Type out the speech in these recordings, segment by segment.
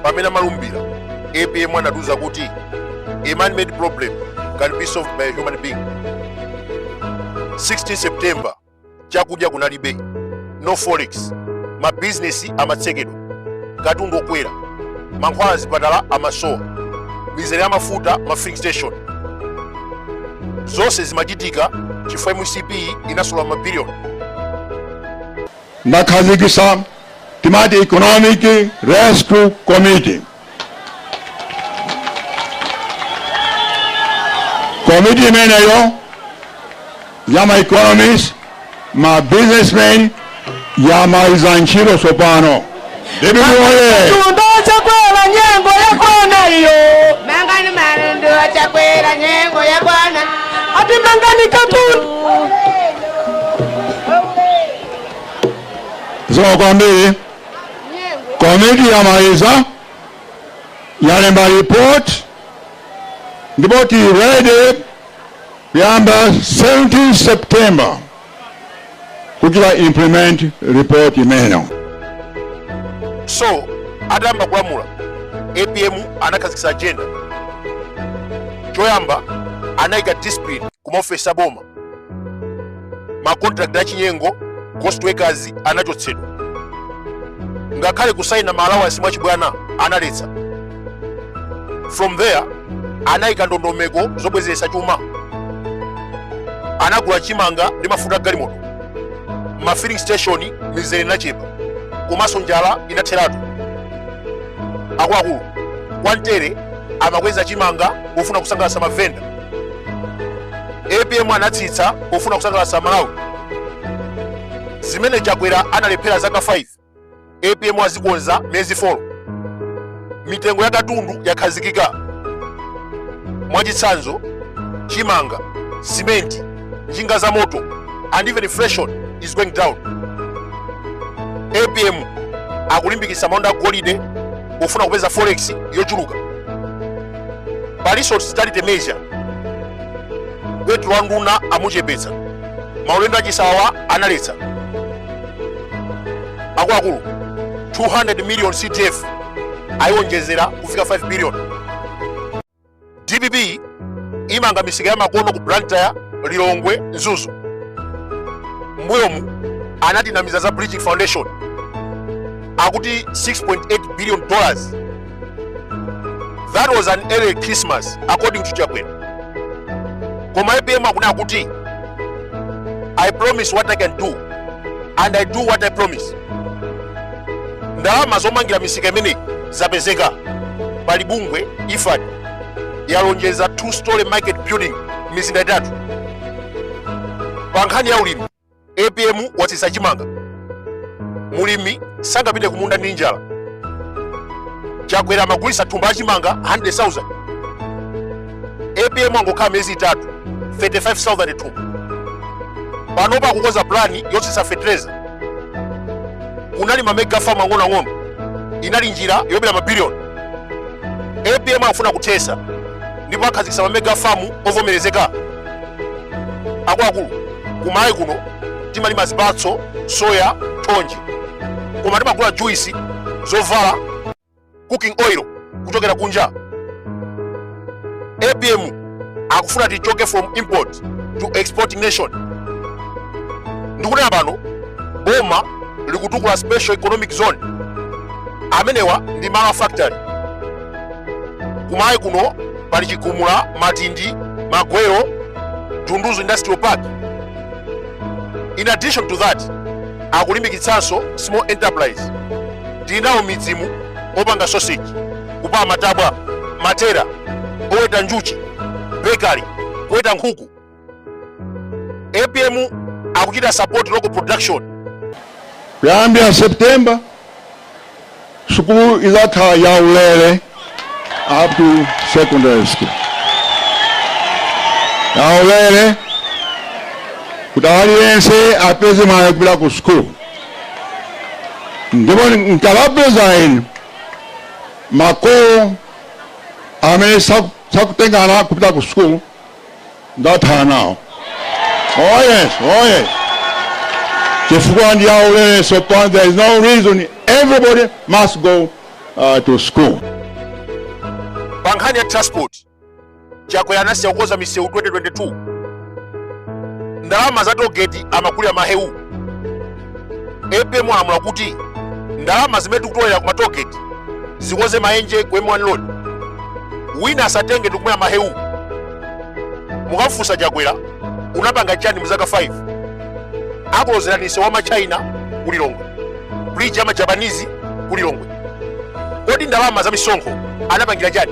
pamene amalumbira apm anatiuza kuti a man made problem can be solved by a human being 16 september chakudya kunalibe no forex mabizinesi amatsekedwa katundu okwera mankhwala azipatala amasowa mizere ya mafuta ma filling station zonse zimachitika chifukwa mcp inasolola mabiliyoni ndakhazikisa timati economic rescue committee komiti imeneyo ya ma economist ma businessmen yamaliza ntchito tsopano Chumba chakwera nyengo yakwana iyo mangani katundu chakwera nyengo yakwana ati mangani katundu zikomo kwambiri komiti yamaliza yalemba report ndipo tili ready kuyamba 17 september kuchita implement report imeneyo so atayamba kulamula apm anakhazikitsa agenda choyamba anayika discipline ku maofesi aboma makontrakt achinyengo ghost workers anachotsedwa ngakhale kusayina ma allowance mwachibwana analetsa from there anayika ndondomeko zobwezeretsa chuma anagula chimanga ndi mafuta a galimoto ma filling station mizere inachepa komanso njala inatheratu akuluakulu kwantere amakweza chimanga pofuna kusangalatsa mavenda apm anatsitsa pofuna kusangalatsa amalawi zimene chakwera analephera zaka 5 apm azikonza miyezi 4 mitengo ya katundu yakhazikika mwachitsanzo chimanga simenti njinga za moto and even inflation is going down apm akulimbikitsa malonda agolide pofuna kupeza forex yochuluka palinso austerity measure petulo wa nduna amuchepetsa maulendo achisawawa analetsa akuluakulu 200 million cdf ayiwonjezera kufika 5 billion dpp imanga misika ya makono ku blantyre lilongwe mzuzu mbuyomu anatinamiza za bridging foundation akuti 6.8 billion dollars that was an early christmas according to chakwera koma apm akunena kuti i promise what i can do and i do what i promise ndalama zomangira misika imeneyi zapezeka pali bungwe la ifad yalonjeza two storey market building mizinda itatu pa nkhani ya ulimi apm watsitsa chimanga mulimi sangapite kumunda ndi njala chakwera amagulitsa thumba la chimanga 100000 apm angokhala miyezi itatu 35000 thumba panopa akukonza plani yotsitsa feteleza kunali mamega famu ang'onoang'ono inali njira yobera mabiliyoni apm akufuna kuthesa ndipo akhazikitsa mamega famu ovomerezeka akuluakulu kuMalawi kuno timalima zipatso soya thonje koma timagula juisi zovala cooking oil kuchokera kunja apm akufuna tichoke from import to exporting nation ndikunena pano boma likutukula special economic zone amenewa ndi ma factory kuMalawi kuno pali chigumula matindi magwero dunduzu industrial park in addition to that akulimbikitsanso small enterprise tili nawo midzimu opanga sausage kupala matabwa matelala oweta njuchi bakery kuweta nkhuku apm akuchita support local production kuyambira september sukulu izakhala ya ulere up to secondary school ya ulere kuti aliyense apeze mwayi kupita ku sukulu ndipo nkawapeza ine makolo amene saku- sakutenga ana kupita ku sukulu ndathana nawo oh yes oh yes chifukwa ndi yaulere so pa- there is no reason everybody must go uh, to school pa nkhani ya transport chakwera anasiya kukonza misewu 2022 ndalama za togeti amagulira mahewu apm alamula kuti ndalama zimene tikutolera ku matogeti zikoze mayenje ku m1 road wina asatenge ndikumwera mahewu mukamufunsa chakwera unapanga chani mu zaka 5 akulozerani misewu ya matchaina ku lilongwe bridge ya majapanizi ku lilongwe kodi ndalama za misonkho anapangira chani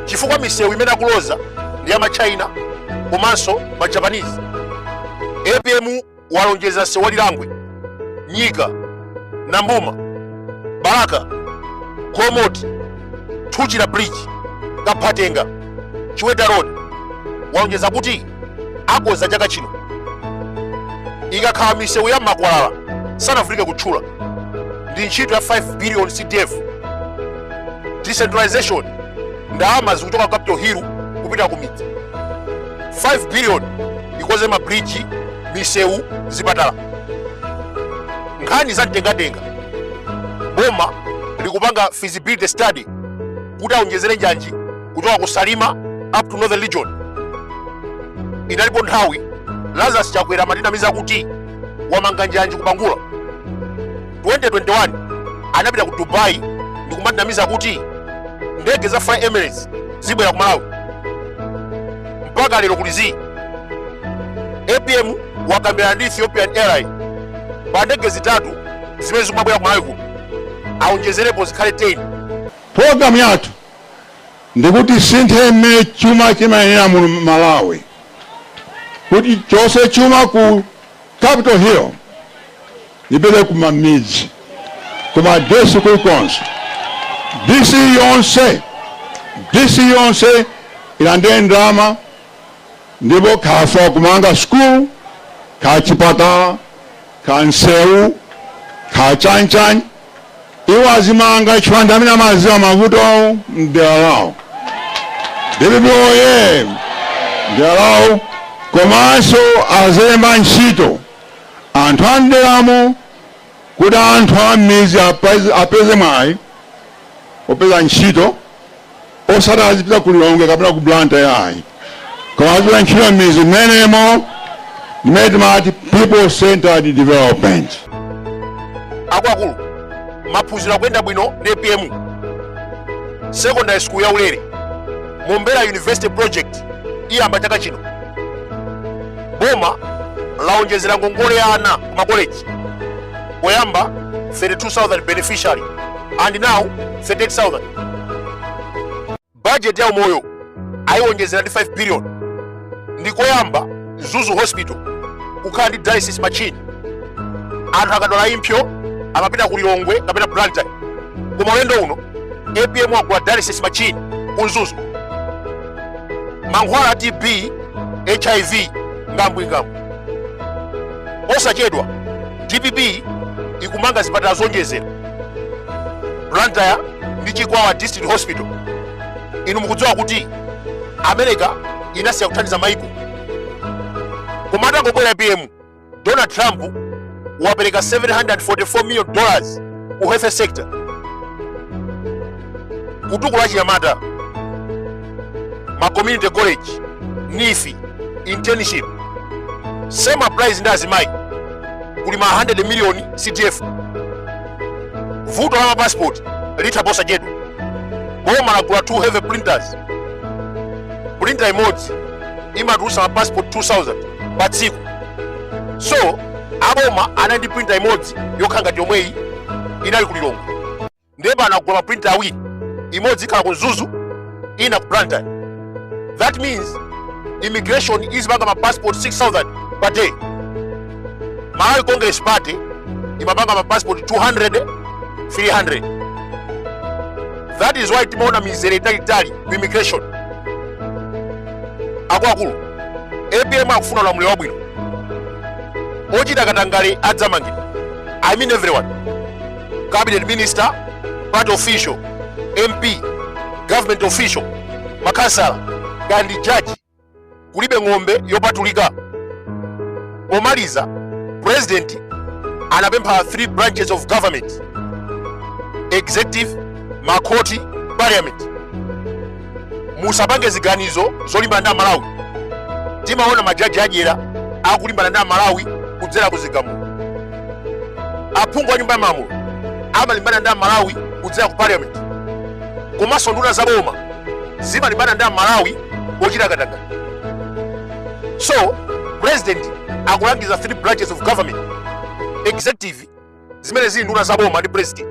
chifukwa misewu imene akuloza ndi ya matchaina komanso majapanizi apm walonjeza msewu wa lilangwe nyika nambuma balaka nkhotakota thuchira bridge kaphatenga chiweta road walonjeza kuti akonza chaka chino ikakhala misewu ya makwalala sindivutika kutchula ndi ntchito ya 5 billion cdf decentralization ndalama zikuchoka ku capital hill kupita ku midzi 5 billion ikonze mabridge misewu zipatala nkhani za mtengatenga boma likupanga feasibility study kuti aonjezere njanji kuchoka ku salima up to northern region inalipo nthawi lazarus chakwera amatinamiza kuti wamanga njanji kubangula 2021 anapita ku dubai ndikumatinamiza kuti ndege za fly emirates zibwera ku malawi mpaka lero kuli zii apm wakambirana ndi ethiopian airline pa ndege zitatu zimene zikumabwera ku malawi kuno aonjezerepo zikhale 10 programu yathu ndikuti sinthe mmene chuma chimayendera mu malawi kuti chonse chuma ku Capital Hill ipite kumamidzi kuma DC kulikonse DC yonse DC yonse ilandire ndalama ndipo akafuna kumanga school ka chipatala ka nsewu ka chanchani Iwo azimanga chifukwa ndi amene amaziwa mavuto mdera lawo. Dpp oye! Mdera lawo komanso azilemba ntchito anthu a mderamo kuti anthu a m'mizi apeze mwayi opeza ntchito. osati azipita ku lilongwe kapena ku blantyre yayi koma azipeza ntchito m'mizi mmenemo ndimene timati people centered development akuluakulu maphunziro akuyenda bwino ndi apm secondary school ya ulere mombera university project iyamba chaka chino boma laonjezera ngongole ya ana ku makoleji poyamba 32000 beneficiary and now 38000 budget ya umoyo ayiwonjezera ndi 5 billion ndikoyamba mzuzu hospital kukhala ndi dialysis machine anthu akadwala impsyo amapita ku lilongwe kapena blantyre koma ulendo uno apm wagula dialysis machine ku mzuzu mankhwala a tb hiv ngambwingambwi posachedwa dpp ikumanga zipatala zonjezera blantyre ndi chikwawa district hospital inu mukudziwa kuti america inasiya kuthandiza maiko koma atangobwera apm donald trump wapereka 744 million dollars ku health sector kutukula achinyamata ma community college NEEF internship same applies ndi azimayi kuli ma 100 million CDF vuto la mapassport litha posachedwa boma lagula 2 heavy printers printer imodzi imatulutsa mapassport 2000 pa tsiku so aboma anali ndi printer imodzi yokhala ngati yomweyi inali ku lilongo ndiye pano anagula maprinta awiri imodzi ikhala ku mzuzu ina ku blantyre that means immigration izipanga mapassport 6000 per day malawi congress party imapanga mapassport 200 300 that is why timaona mizere italitali ku immigration akuluakulu apm akufuna ulamuliro wabwino ochita katangale adzamangidwa i mean everyone cabinet minister party official mp government official makhansala kaya ndi jaji kulibe ng'ombe yopatulika pomaliza president anapempha three branches of government executive makhoti parliament musapange ziganizo zolimbana ndi amalawi timaona majaji adyera akulimbana ndi amalawi kudzera ku zigamulo aphungu a nyumba ya malamulo amalimbana ndi amalawi kudzera ku parliament komanso nduna za boma zimalimbana ndi amalawi pochita katangale so president akulangiza three branches of government executive zimene zili nduna za boma ndi president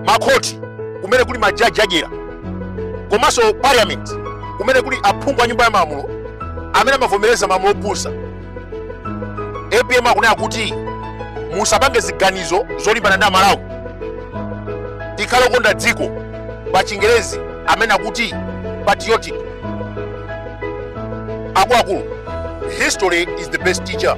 makhoti kumene kuli majaji adyera komanso parliament kumene kuli aphungu a nyumba ya malamulo amene amavomereza malamulo opusa apm akunena kuti musapange ziganizo zolimbana ndi amalawi tikhale okonda dziko pa chingerezi amene akuti patriotic akuluakulu history is the best teacher